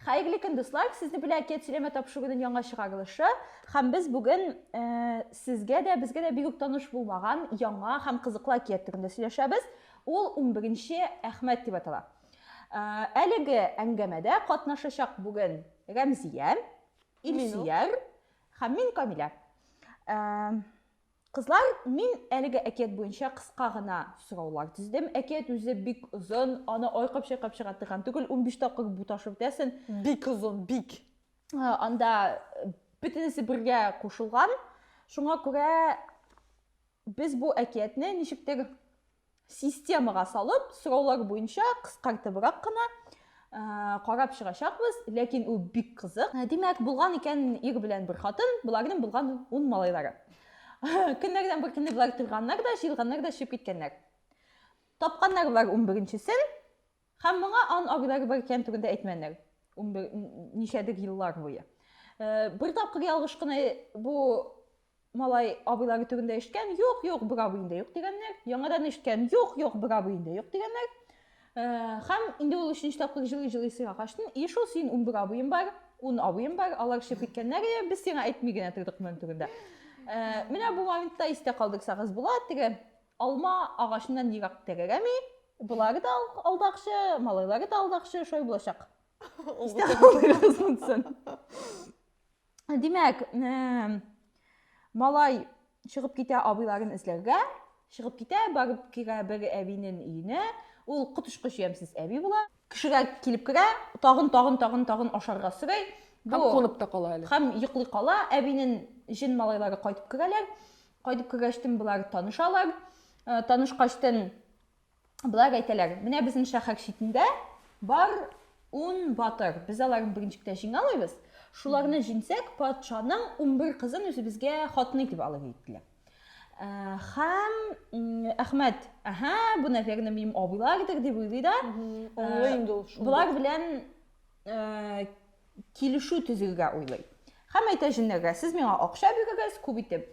Хәерле көн, дуслар! Сезне белән әкият сөйләмә тапшыру көнен яңа чыгарылышы. Һәм без бүген ә, сезгә дә, безгә дә бигүк таныш булмаган яңа һәм кызыклы әкият турында сөйләшәбез. Ул 11-нче Әхмәт дип атала. Ә, әлеге әңгәмәдә катнашачак бүген Рәмзия, Илсияр һәм мин Камилә. Ә, Кызлар, мин әлеге әкият буенча кыска гына сораулар төздем. Әкият үзе бик озын, аны айкап-чайкап чыга торган түгел, унбиш тапкыр буташып үтәсен. Бик озын, бик. Анда бөтенесе бергә кушылган. Шуңа күрә без бу әкиятне ничектер системага салып, сораулар буенча кыскартыбрак кына ә, карап чыгачакбыз, ләкин ул бик кызык. Ә, димәк, булган икән ир белән бер хатын, боларның булган ун малайлары. Көннәрдән бер көнне болар торганнар да, җыелганнар да чыгып киткәннәр. Тапканнар болар унберенчесен, Һәм моңа ан аграр бер кән турында әйтмәннәр. Унбер ничәдер еллар буе. Бер тапкыр ялгыш кына бу малай абыйлары турында ишеткән, юк, юк, бер абый инде юк дигәннәр. Яңадан ишеткән, юк, юк, бер абый инде юк дигәннәр. Һәм инде ул өченче тапкыр җылый-җылый сыйга качтын. И шул син унбер абыем бар, ун абыем бар, алар чыгып киткәннәр, без сиңа әйтми генә тордык моның турында. Менә бу моментта истә калдырсагыз була, теге Алма агачыннан ерак терерәми. Болары да алдакчы, малайлары да алдакчы, шулай булачак. Димәк, малай чыгып китә абыйларын эзләргә, чыгып китә, барып керә бер әбинен өенә, ул котышкыч ямсез әби була. Кешегә килеп керә, тагын, тагын, тагын, тагын ашарга сорый. Һәм кунып та кала әле. Һәм йоклый кала, әбинен җен малайлары кайтып керәләр. Кайтып кергәчтен болар танышалар. Э, танышкачтын болар әйтәләр, менә безнең шәһәр читендә бар ун батыр. Без аларны беренче китә җиңалыйбыз. Шуларны җиңсәк, патшаның 11 кызын үзебезгә хатын итеп алыр диделәр. Э, һәм Әхмәт, аһа, бу, наверное, минем абыйлардыр дип уйлый да. Э, Олы инде ул. Болар белән килешү төзегә уйлый. Һәм әйтә җеннәргә, сез миңа акча бирегез, күп итеп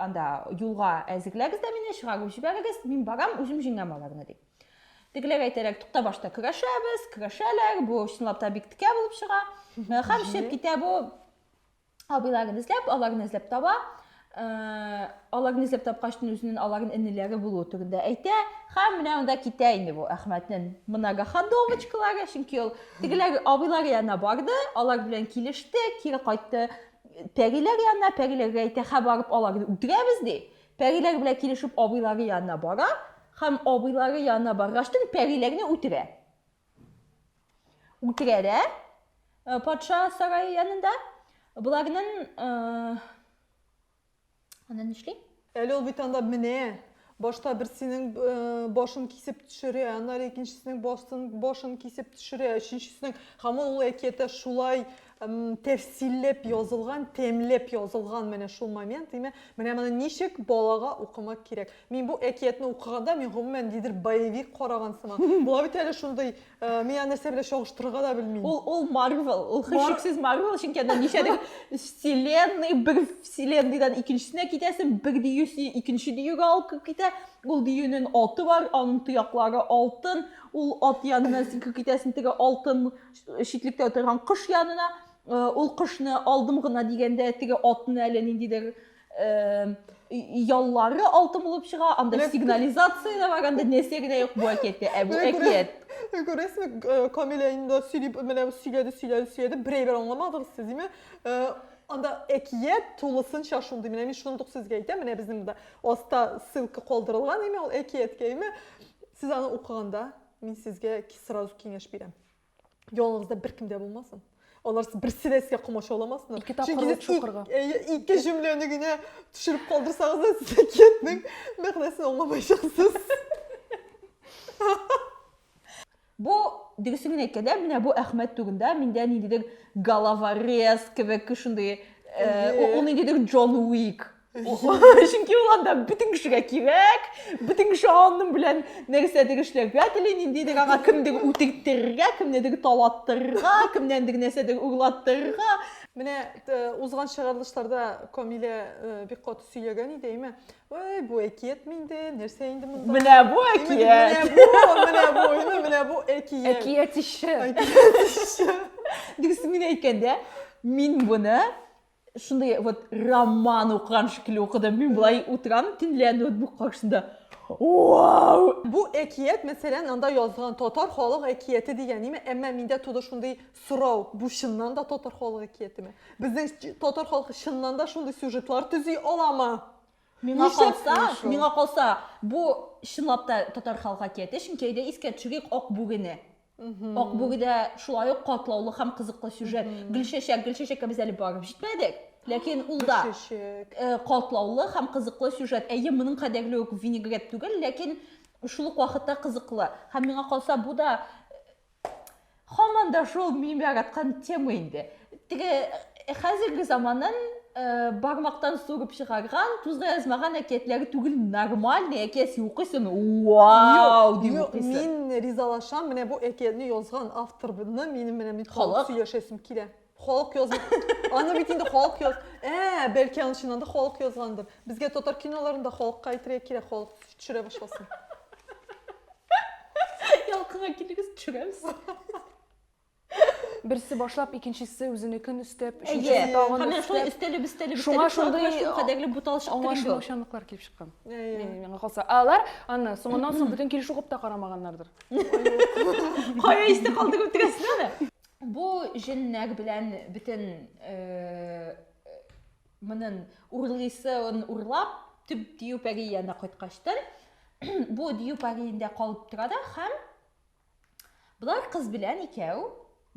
анда юлга әзерләгез дә мине, чыгарып җибәрегез, мин барам, үзем җиңәм аларны дип. Тегеләр әйтәләр, тукта башта көрәшәбез, көрәшәләр, бу чынлап та бик текә булып чыга. Һәм чыгып китә бу абыйларын эзләп, аларны эзләп таба. Э, аларны эзләп тапкач, үзенең аларның энеләре булуы турында әйтә. Һәм менә анда китә инде бу Әхмәтнең многоходовочкалары, чөнки ул тегеләр абыйлар янына барды, алар белән килеште, кире кайтты пәриләр янына, пәриләргә әйтә, һә барып аларны үтерәбез ди. Пәриләр белән килешеп абыйлары янына бара һәм абыйлары янына баргач, пәриләрне үтерә. Үтерә дә э, патша сарае янында. Боларның э, аны нишли? Әле ул бит анда менә башта берсенең э, башын кисеп төшерә аннары икенчесенең башын башын кисеп төшерә өченчесенең һаман ул әкиятә шулай М, тәфсилләп язылган, тәмләп язылган менә шул момент, димә. Менә моны ничек балага укымак кирәк? Мин бу әкиятне укыганда, мин гомумән нидер боевик караган сымак. Була бит әле шундый, э, мин аны нәрсә белән чагыштырырга да белмим. Ул, ул Марвел, ул хәшексез Марвел, чөнки анда ничәдер вселенная, бер вселенныйдан икенчесенә китәсен, бер диюсе икенче диюгә алып китә, ул диюнен аты бар, аның тояклары алтын, ул ат янына сикереп китәсен, теге алтын, читлектә утырган кош янына, ул кошны алдым гына дигәндә, теге атны әле ниндидер яллары алтын булып чыга, анда сигнализация да бар, анда нәрсә генә юк бу әкияттә, ә бу әкият. Күрәсезме, Камилә инде сөйләп, менә сөйләде, сөйләде, сөйләде, берәйбер аңламадыгыз сез, диме? анда әкият тулысынча шундый менә мин шундук сезгә әйтәм менә безнең монда аста ссылка калдырылган име ул әкияткә име сез аны укыганда мин сезгә сразу киңәш бирәм Ялыгызда бер кем дә булмасын. Алар берсе дә сезгә комачауламасыннар. Ике тапкырлы чукырга. Ике җөмләне генә төшереп калдырсагыз да, сез әкиятнең мәгънәсен аңламаячаксыз. Бу дөресен генә әйткәндә, менә бу Әхмәт түгендә миндә ниндидер головорез кебек шундый, ул ниндидер Джон Уик чөнки ул анда бөтен кешегә кирәк бөтен кеше аның белән нәрсәдер эшләргә тели ниндидер аңа кемдер үтерттерергә кемнедер талаттырырга кемнәндер нәрсәдер урлаттырырга менә узган чыгарылышларда камилә бик каты сөйләгән иде әйме ой бу әкият инде нәрсә инде монда менә бу әкият менә бу менә бу менә бу әкият әкият ише дөресен генә әйткәндә мин моны шундый вот роман укыган шикелле укыдым мин былай утырам төнлә ноутбук каршында вау бу әкият мәсәлән анда язылган татар халык әкияте дигән ниме әмма миндә туды шундый сорау бу чыннан да татар халык әкиятеме безнең татар халкы чыннан да шундый сюжетлар төзи аламы миңа калса миңа калса бу чынлап та татар халык әкияте чөнки әйдә искә төшерик ак бүрене Ак бүгедә шулай ук катлаулы һәм кызыклы сюжет. Гөлчәчәк, гөлчәчәккә без әле барып җитмәдек. Ләкин ул да э, катлаулы һәм кызыклы сюжет. Әйе, моның кадәрле үк винегрет түгел, ләкин шул ук вакытта кызыклы. Һәм миңа калса, бу да һаман да шул мин яраткан тема инде. Теге э, хәзерге заманын э, бармактан сугып чыгарган, тузга язмаган әкиятләре түгел, нормальный әкиясе укыйсын. Вау, дип Юк, укыйсын. мин ризалашам, менә бу әкиятне язган авторны минем менә бит Халык? сөйләшәсем килә. Халык язган. Аны бит инде халык яз. Ә, бәлки аны чыннан да халык язгандыр. Безгә татар киноларында халыкка әйтергә кирәк, халык төшерә башласын. Ялкынга килегез, төшерәбез. Берсе башлап, икенчесе үзенекен өстәп, өченчесе тагын өстәп. Шулай өстәлеп, өстәлеп, шуңа шундый кадәрле бутал чыкты. Аңлашылмаучанлыклар килеп чыккан. Миңа калса. Алар аны соңыннан соң бүтән килеш укып та карамаганнардыр. Кая исте калды күп дигәсен аны. Бу җеннәк белән бөтен монын урлыйсын урлап, төп дию пәри янына кайткачтын, бу дию пәри инде калып тора да һәм Болар кыз белән икәү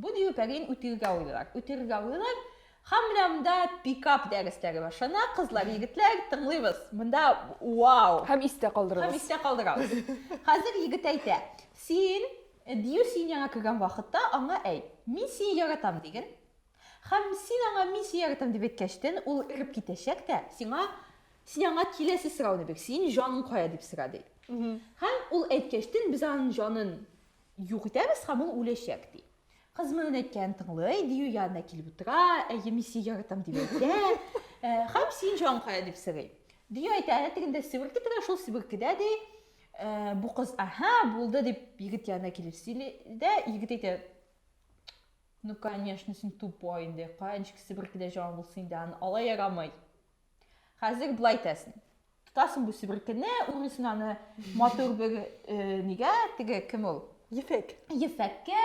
бу дирпәрин үтерергә уйлыйлар. Үтерергә уйлыйлар. Хам менә монда пикап дәресләре башлана. Кызлар, егетләр, тыңлыйбыз. Монда вау! Хам истә калдырабыз. Хам истә калдырабыз. Хәзер егет әйтә, син, дию син яңа кергән вакытта аңа әйт, мин сине яратам диген, Һәм син аңа мин сине яратам дип әйткәчтен, ул эреп китәчәк тә, сиңа, син аңа киләсе сорауны бир, синең җаның кая дип сора, ди. Һәм ул әйткәчтен, без аның җанын юк итәбез һәм ул үләчәк, ди. Кыз моның әйткәнен тыңлый, Дию янына килеп утыра, әйе, мин сине яратам дип әйтә, һәм синең җаның кая дип сорый. Дию әйтә, әнә тегендә себерке тора, шул себеркедә, ди. Бу кыз, аһа, булды, дип егет янына килеп сөйли дә, егет әйтә, Ну конечно, син тупой инде, кая ничек себерке дә җан булсын инде аны, алай ярамый. Хәзер болай итәсең. Тотасың бу себеркене, үресен аны матур бер э, нигә, теге кем ул? Ефәк. Ефәккә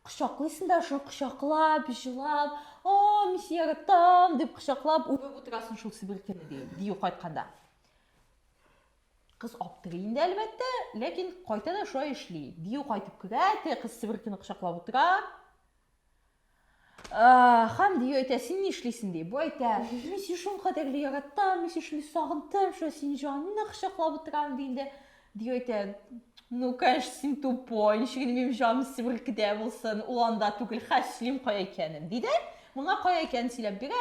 кочаклыйсың да шуны кочаклап, җылап, о, мин сине яратам, дип кочаклап үреп утырасың шул себеркене, ди, дию кайтканда. Кыз аптырый инде, әлбәттә, ләкин кайта да шулай эшли. Дию кайтып керә, теге кыз Себеркене кочаклап утыра. Хам дию әйтә, син ни эшлисең ди. Бу әйтә, мин сине шул кадәр яраттым, мин сине шундый сагындым, шулай синең җаныңны кочаклап утырам ди инде. Дию әйтә, ну, конечно, син тупой, ничек инде минем җаным Себеркедә булсын, ул анда түгел, хәслим кая икәнен, ди дә, моңа кая икәнен сөйләп бирә.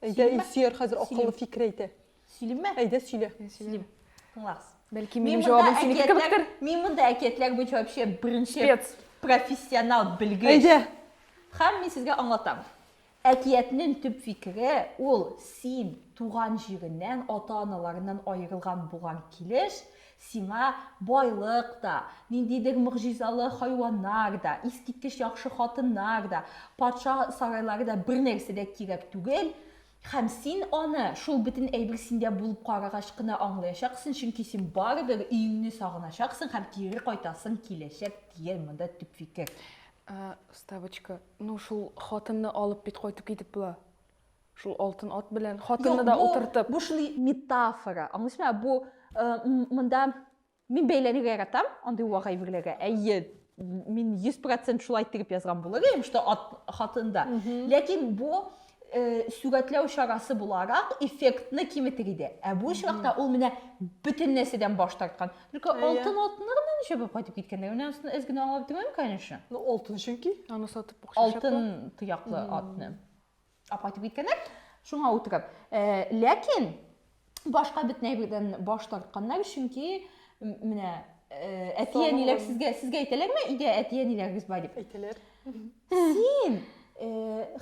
Әйдә, Илсөяр хәзер акыллы фикер әйтә. Сөйлимме? Әйдә, сөйлә. Сөйлим. Тыңлагыз. Бәлки минем җавабым синеке кебектер. Мин монда әкиятләр буенча вообще беренче профессионал белгеч. Әйдә. Хәм мин сезгә аңлатам. Әкиятнең төп фикере ул син туган җиреннән, ата-аналарыннан аерылган булган килеш, Сиңа байлык та, ниндидер могҗизалы хайваннар да, искиткеч яхшы хатыннар да, патша сарайлары да бернәрсә дә кирәк түгел, һәм син аны, шул бөтен әйбер синдә булып карагач кына аңлаячаксың, чөнки син барыбер өеңне сагыначаксың һәм кире кайтасың киләчәк, дигән монда төп фикер. Ә, вставочка, ну, шул хатынны алып бит кайтып китеп була. Шул алтын ат белән хатынны да утыртып. Бу шундый метафора. Аңлыйсыңмы? Бу монда мин бәйләнергә яратам, андый вага әйберләргә. Әйе, мин 100% шулай тегеп язган булыр идем, что ат хатында. Ләкин бу э, сүгәтләү чарасы буларак эффектны киметер иде. Ә бу очракта ул менә бөтен нәрсәдән баш тарткан. Только алтын атны гына ничә булып кайтып киткәндә, менә аны эз генә аңлап тормыйм, конечно. Ну, алтын чөнки, аны сатып акча Алтын тояклы атны. Ә кайтып киткәннәр, шуңа утырып. Э, ләкин башка бөтен әйбердән баш тартканнар, чөнки менә э, әти-әниләр сезгә сезгә әйтәләрме? Идә әти-әниләрегез бар дип. Әйтәләр. Син э,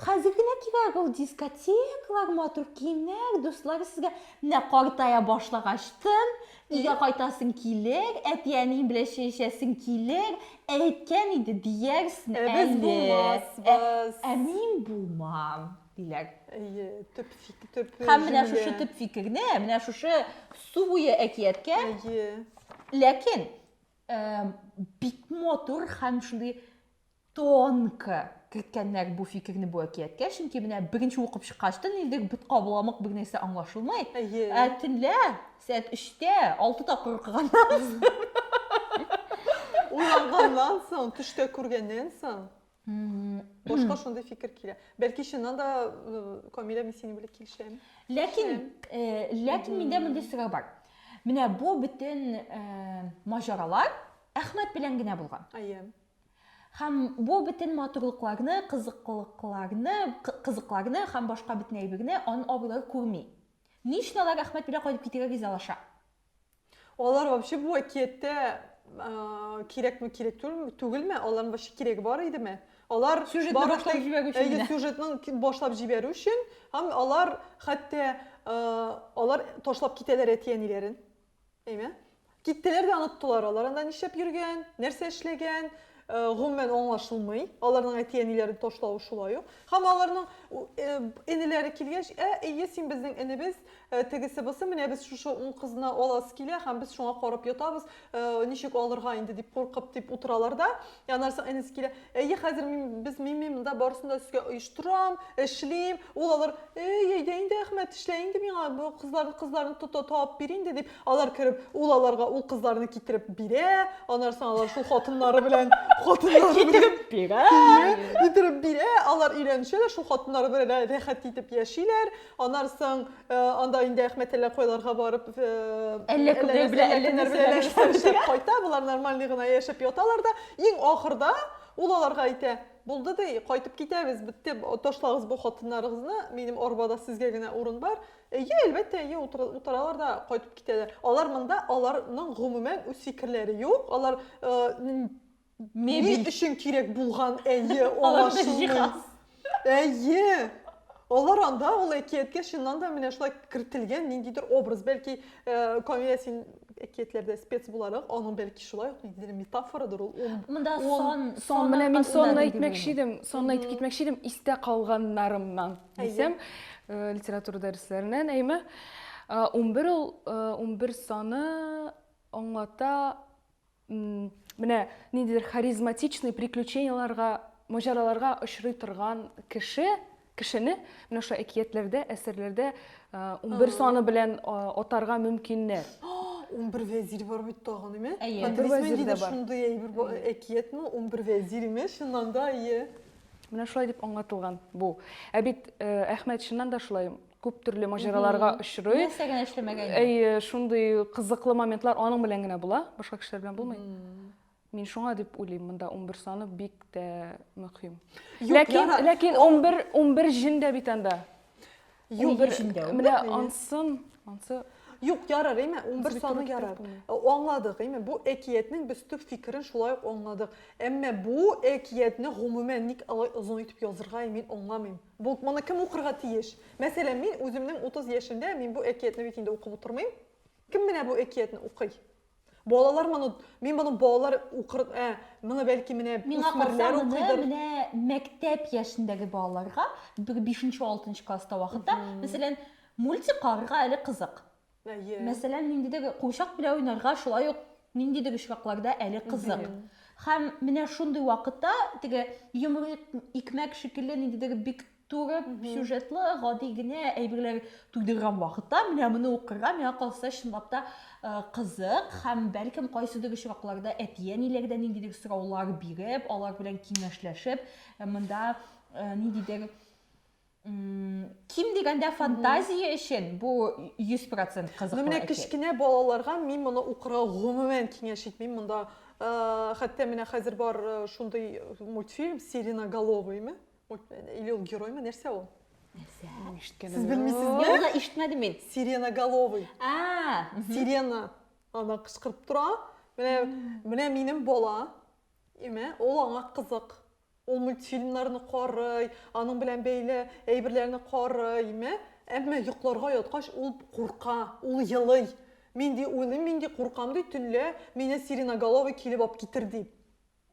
хәзер генә кирәк ул дискотекалар, матур киемнәр, дуслар сезгә менә картая башлагачтын, Өйгә кайтасың килер, әти-әниең белән чәй эчәсең килер, әйткән иде диярсен әле. Ә без булмасбыз. Ә мин булмам, диләр. Әйе, төп фикер. Һәм менә шушы төп фикерне, менә шушы су буе әкияткә. Әйе. Ләкин бик матур һәм шундый Тонко керткәннәр бу фикерне бу әкияткә, чөнки менә беренче укып чыккач тын илдек, бит кабыламык бер нәрсә аңлашылмый. Ә төнлә сәгать өчтә, алты тапкыр укыганнан соң. Уянганнан соң, төштә күргәннән соң. Башка шундый фикер килә. Бәлки чыннан да Камилә мин синең белән килешәм. Ләкин, ләкин миндә мондый сорау бар. Менә бу бөтен маҗаралар Әхмәт белән генә булган. Әйе. Һәм бу бөтен матурлыкларны, кызыклыкларны, кызыкларны һәм башка бөтен әйберне ан абыйлар күрми. Ни өчен алар рәхмәт белән кайтып китәргә ризалаша? Алар вообще бу әкияттә кирәкме, кирәк түгелме, алар вообще кирәге бар идеме? Алар сюжетны башлап җибәрү өчен. Әйе, сюжетны башлап җибәрү өчен һәм алар хәтта алар ташлап китәләр әти-әниләрен. Әйме? Киттеләр дә оныттылар, алар анда нишләп йөргән, нәрсә эшләгән, э, гомумән аңлашылмый. Аларның әти-әниләрен ташлавы шулай ук. Һәм аларның э, энеләре килгәч, ә, әйе, син безнең энебез, э, тегесе бусы, менә без шушы ун кызны аласы килә һәм без шуңа карап ятабыз, ничек алырга инде дип куркып дип утыралар да, Янарсың әнисе килә, әйе, хәзер мин, без, мин, мин монда барысын да сезгә оештырам, эшлим. Ул алар, әй, әйдә инде, Әхмәт, эшлә инде миңа, бу кызларны, кызларны тота, табып бир инде, дип, алар кереп, ул аларга ул кызларны китереп бирә, анарсың алар шул хатыннары белән, хатыннары белән китереп бирә, китереп бирә, алар өйләнешәләр, шул хатыннары белән рәхәт итеп яшиләр. Анар соң э, анда инде Әхмәтәллә койларга барып э, Әллә кемнәр белән, әллә кемнәр белән нәрсәләр нәрсәләр эшләшеп кайта. Болар нормальный гына яшәп яталар да. Иң ахырда ул аларга әйтә, булды ди, кайтып китәбез, бетте, ташлагыз бу хатыннарыгызны, минем арбада сезгә генә урын бар. Әйе, әлбәттә, әйе, утыр- утыралар да кайтып китәләр. Алар монда, аларның гомумән үз фикерләре юк, алар э, н- Ни өчен кирәк булган, әйе, аңлашылмый. Әйе. Алар анда ул әкияткә чыннан да менә шулай кертелгән ниндидер образ, бәлки э, Камилә син әкиятләрдә спец буларак, аның бәлки шулай ук ниндидер метафорадыр ул. Монда сон, сон менә мин сонны әйтмәкче идем, сонны әйтеп китмәкче идем, истә калганнарымнан дисәм, э, литература дәресләреннән, әйме. 11 э, ул 11 саны аңлата Менә ниндидер харизматичный приключенияларга, маҗараларга очрый торган кеше, кешене менә шушы әкиятләрдә, әсәрләрдә 11 саны белән атарга мөмкиннәр. 11 вәзир бар бит тагын, име? Әйе, вәзир дә бар. Шундый әйбер әкиятме? 11 вәзир име? Чыннан да, әйе. Менә шулай дип аңлатылган бу. Ә бит Әхмәт чыннан да шулай күп төрле маҗараларга очрый. Нәрсә генә эшләмәгән. Әйе, шундый кызыклы моментлар аның белән генә була, башка кешеләр белән булмый. Мин шуңа дип уйлыйм, монда 11 саны бик тә мөһим. Ләкин, ләкин 11, 11 җен дә бит анда. Юк, бер җен дә. Менә ансын, ансы Юк, ярар, әйме, 11 саны ярар. Э, аңладык, әйме, бу әкиятнең без төп фикерен шулай ук аңладык. Әмма бу әкиятне гомумән ник алай озын итеп язырга, мин аңламыйм. Булт, моны кем укырга тиеш? Мәсәлән, мин үземнең 30 яшемдә, мин бу әкиятне бит инде укып утырмыйм. Кем менә бу әкиятне укый? Балалар моны, мин моны балалар укыр, ә, моны бәлки менә Миңа калса, моны менә мәктәп яшендәге балаларга, бер 5-6 класста вакытта, мәсәлән, мультик карарга әле кызык. Әйе. Мәсәлән, ниндидер курчак белән уйнарга шулай ук ниндидер очракларда әле кызык. Һәм менә шундый вакытта теге юмор икмәк шикелле ниндидер бик туры сюжетлы, гади генә әйберләр туйдырган вакытта менә моны укырга миңа калса чынлап та э, кызык һәм бәлкем кайсыдыр очракларда әти-әниләр дә ниндидер сораулар биреп, алар белән киңәшләшеп, э, монда э, ниндидер ким дигәндә фантазия өчен бу 100% кызыклы. Ну менә кечкенә балаларга мин моны укырга гомумән киңәш итмим. Монда хәтта менә хәзер бар шундый мультфильм Сиреноголовыймы? Или ул героймы? Нәрсә ул? Нәрсә? Сез белмисезме? Юлда ишетмәдем мин. Сиреноголовый. А, сирена ана кычкырып тора. Менә менә минем бала. Имә, ул аңа кызык. Ул мультфильмнарны карый, аның белән бәйле әйберләрне карый, мә, әмма йокларга яткач ул курка, ул елый. Мин ди уйлыйм, мин ди куркам ди, төнлә мине сиреноголовый килеп алып китер ди.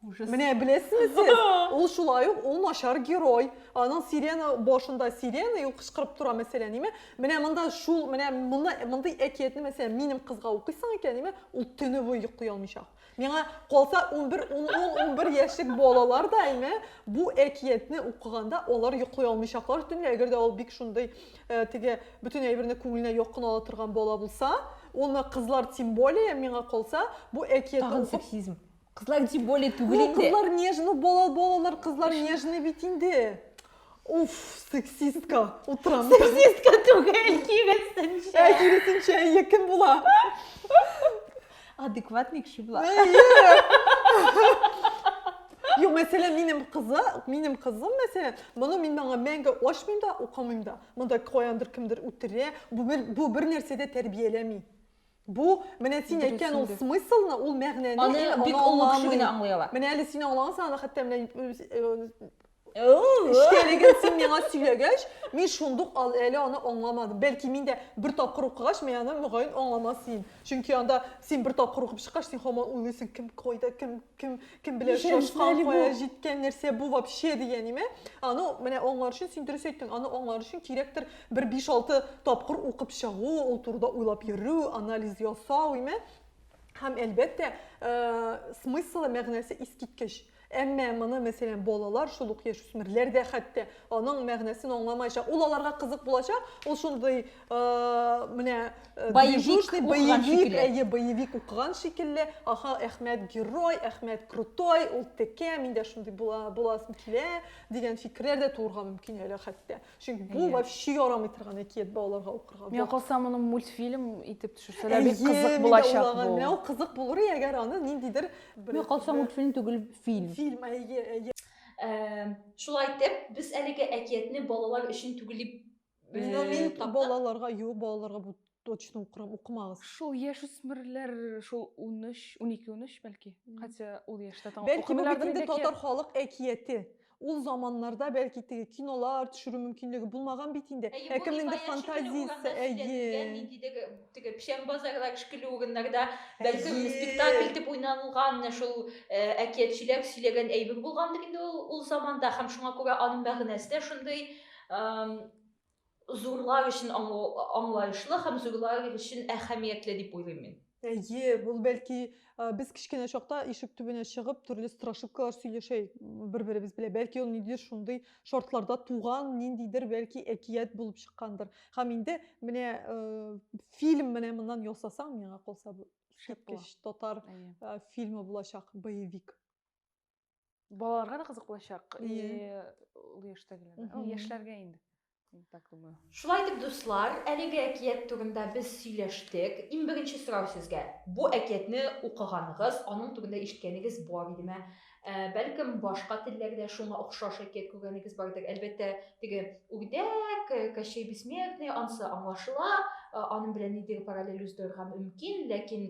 Ужас. Менә беләсезме сез? Ул шулай ук, ул начар герой. Аның сирена башында сирена и ул кычкырып тора, мәсәлән, име? Менә монда шул, менә моны, мондый әкиятне, мәсәлән, минем кызга укыйсың икән, име? Ул төне буе йоклый алмыйча. Миңа калса, унбер, ун-ун, унбер яшьлек балалар да әйме, бу әкиятне укыганда алар йоклый алмыйчаклар төнлә, әгәр дә ул бик шундый э, теге бөтен әйберне күңеленә якын ала торган бала булса, аны кызлар тем более, миңа калса, бу әкиятне Тагын сексизм. Кызлар тем более түгел инде. Кызлар нежный, бала балалар кызлар нежный бит инде. Уф, сексистка, утырам. Сексистка түгел, киресенчә. Ә, киресенчә, әйе, кем була? Адекватный кеше була. Юк, мәсәлән, минем кызы, минем кызым, мәсәлән, моны мин аңа мәңге ачмыйм да, укымыйм да. Монда каяндыр кемдер үтерә, бу бер нәрсә дә тәрбияләми. Бу, менә син әйткән ул смыслны, ул мәгънәне аны бик олы кеше генә аңлый ала. Менә әле син аңлагансың, аны хәтта менә Эчтәлеген син миңа сөйләгәч, мин шундук ал, әле аны аңламадым. Бәлки мин дә бер тапкыр укыгач, мин аны мөгаен аңламас идем. Чөнки анда син бер тапкыр укып чыккач, син һаман уйлыйсың, кем кайда, кем кем кем белән очрашкан, кая җиткән, нәрсә бу вообще дигән име? Аны менә аңлар өчен син дөрес әйттең, аны аңлар өчен кирәктер бер 5-6 тапкыр укып чыгу, ул турыда уйлап йөрү, анализ ясау, име? Һәм әлбәттә, э, смыслы, мәгънәсе искиткеч. Әмма моны, мәсәлән, балалар, шул ук яшүсмерләр дә хәтта аның мәгънәсен аңламаячак. Ул аларга кызык булачак, ул шундый менә э, боевик боевик әйе боевик укыган шикелле аха әхмәт герой әхмәт крутой ул текә мин дә шундый була буласым килә дигән фикерләр дә тууырга мөмкин әле хәтта чөнки бу вообще ярамый торган әкият балаларга укырга миңа калса моны мультфильм итеп төшерсәләр бик кызык булачак бу менә ул кызык булыр әгәр аны ниндидер миңа калса мультфильм түгел фильм фильм әйе әйе шулай итеп без әлеге әкиятне балалар өчен түгел дип Бездә мин э, балаларга, юк, балаларга бу точно укырым, укымагыз. Шул яшь үсмерләр, шул 13, 12, 13 бәлки. Хотя ул яшьтә таң. Бәлки бу бит инде татар халык әкияте. Ул заманнарда бәлки теге кинолар төшерү мөмкинлеге булмаган бит инде. Ә кемнеңдер фантазиясе, әйе. Нинди теге теге печән базарлар шикелле урыннарда бәлки спектакль итеп уйналган шул э, әкиятчеләр сөйләгән әйбер булгандыр инде ул ул заманда һәм шуңа күрә аның мәгънәсе дә шундый зурлар өчен аңлаешлы һәм зурлар өчен әһәмиятле дип уйлыйм мин әйе ул бәлки без кечкенә чакта ишек төбенә чыгып төрле страшилкалар сөйләшә бер беребез белән бәлки ул ниндидер шундый шартларда туган ниндидер бәлки әкият булып чыккандыр һәм инде менә фильм менә моннан ясасаң миңа калса бу татар фильмы булачак боевик балаларга да кызык булачак и ул яшьтәгеләргә яшьләргә инде так думаю шулай итеп дуслар әлеге әкият турында без сөйләштек иң беренче сорау сезгә бу әкиятне укыганыгыз аның турында ишеткәнегез бар идеме бәлкем башка телләрдә шуңа охшаш әкият күргәнегез бардыр әлбәттә теге үрдәк кощей бессмертный анысы аңлашыла аның белән нидер параллель уздырырга мөмкин ләкин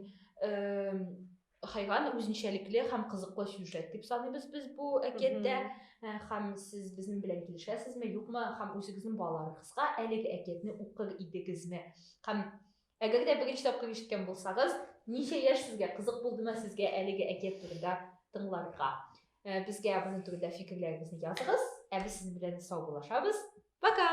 хайван үзенчәлекле һәм кызыклы сюжет дип саныйбыз без бу әкияттә э, һәм сез безнең белән килешәсезме юкмы һәм үзегезнең балаларыгызга әлеге әкиятне укыр идегезме һәм әгәр дә беренче тапкыр ишеткән булсагыз ничә яшь сезгә кызык булдымы сезгә әлеге әкият турында тыңларга э, безгә моның турында фикерләрегезне языгыз ә без сезнең белән саубуллашабыз пока